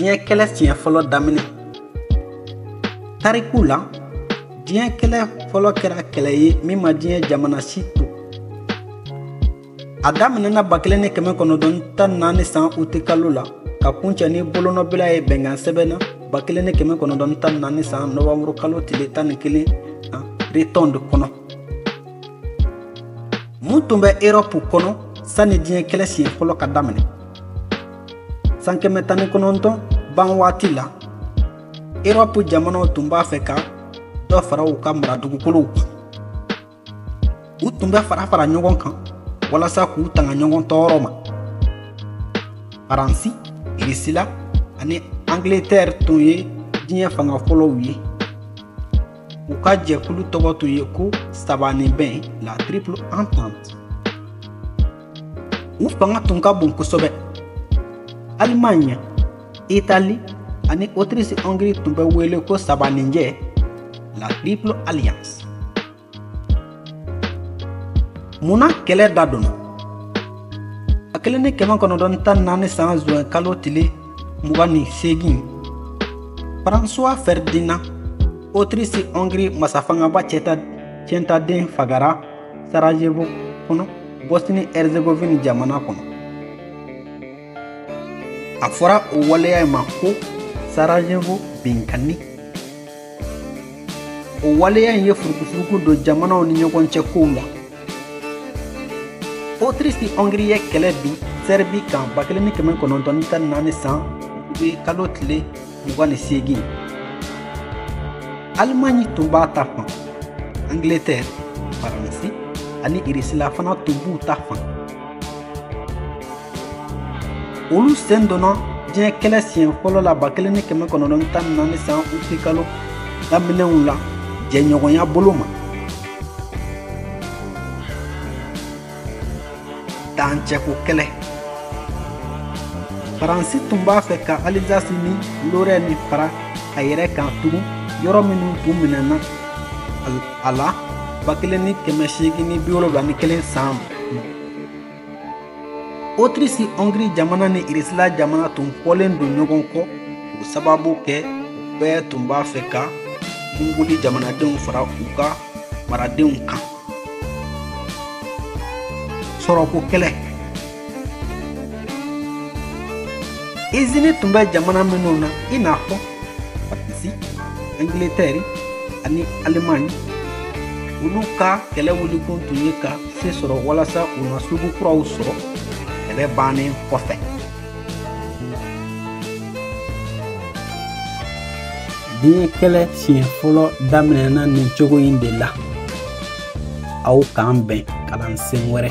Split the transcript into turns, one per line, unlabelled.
diɲɛ kɛlɛ siɲɛ fɔlɔ daminɛ tariku la diɲɛ kɛlɛ fɔlɔ kɛra kɛlɛ ye min ma diɲɛ jamana si to a daminɛna ba kelen ni kɛmɛ kɔnɔntɔn tan naani san uti kalo la ka kuncɛ ni bolonɔbila ye bɛnkan sɛbɛn na ba kelen ni kɛmɛ kɔnɔntɔn tan naani san nɔwanburu kalo tile tan ni kelen retɔnde kɔnɔ mun tun bɛ erɔpu kɔnɔ sanni diɲɛ kɛlɛ siɲɛ fɔlɔ ka daminɛ san kɛmɛ tan ni kɔnɔntɔn ban waati la erɔpu jamanaw tun b'a fɛ ka dɔ fara u ka mara dugukolow kan u tun bɛ fara fara ɲɔgɔn kan walasa k'u tanga ɲɔgɔn tɔɔrɔ ma faransi irisila ani angletɛri tun ye diɲɛ fanga fɔlɔw ye u ka jɛkulu tɔgɔ tun ye ko sabanibɛn la triple entente u fanga tun ka bon kosɛbɛ alimaɲi itali ani otirisi hongiri tun bɛ wele ko sabaninjɛ la triple alliance mun na kɛlɛ da donna ba kelen ni kɛmɛ kɔnɔntɔn tan naani san zuwɛn kalo tile mugan ni seegin faransuwa fɛridinan otirisi hongiri masafangaba ciyɛntaden fagara sarajevo kɔnɔ bosni herzegovine jamana kɔnɔ a fɔra o waleya in ma ko sarajevo binkanni o waleya in ye furukufuruku don jamanaw ni ɲɔgɔn cɛ kow la otirisi hɔngiri ye kɛlɛ bin sɛribi kan ba kelen ni kɛmɛ kɔnɔntɔn ni tan ni naani san kalo tile mugan ni seegin alimaɲi tun b'a ta fan angletɛri faransi ani irisila fana tun b'u ta fan olu sen donna diɲɛ kɛlɛ siɲɛ fɔlɔ la ba kelen ni kɛmɛ kɔnɔntɔn ni tan ni naani san uti kalo daminɛw la jɛɲɔgɔnya bolo ma dancɛko kɛlɛ faransi tun b'a fɛ ka alizasi ni lorɛni fara a yɛrɛ kan tugun yɔrɔ minnu tun minɛna a la ba kelen ni kɛmɛ seegin ni bi wolonwula ni kelen san otirisi hɔngiri jamana ni irisila jamana tun fɔlen don ɲɔgɔn kɔ o sababu kɛ u bɛɛ tun b'a fɛ ka mongoli jamanadenw fara u ka maradenw kan sɔrɔko kɛlɛ izini tun bɛ jamana minnu na i n'a fɔ faransi angilitɛri ani alimaɲi olu ka kɛlɛ wulikun tun ye ka se sɔrɔ walasa u na sugu kuraw sɔrɔ kɛlɛ bannen kɔfɛ diɲɛ kɛlɛ siɲɛ fɔlɔ daminɛna nin cogo in de la aw k'an bɛn kalansen wɛrɛ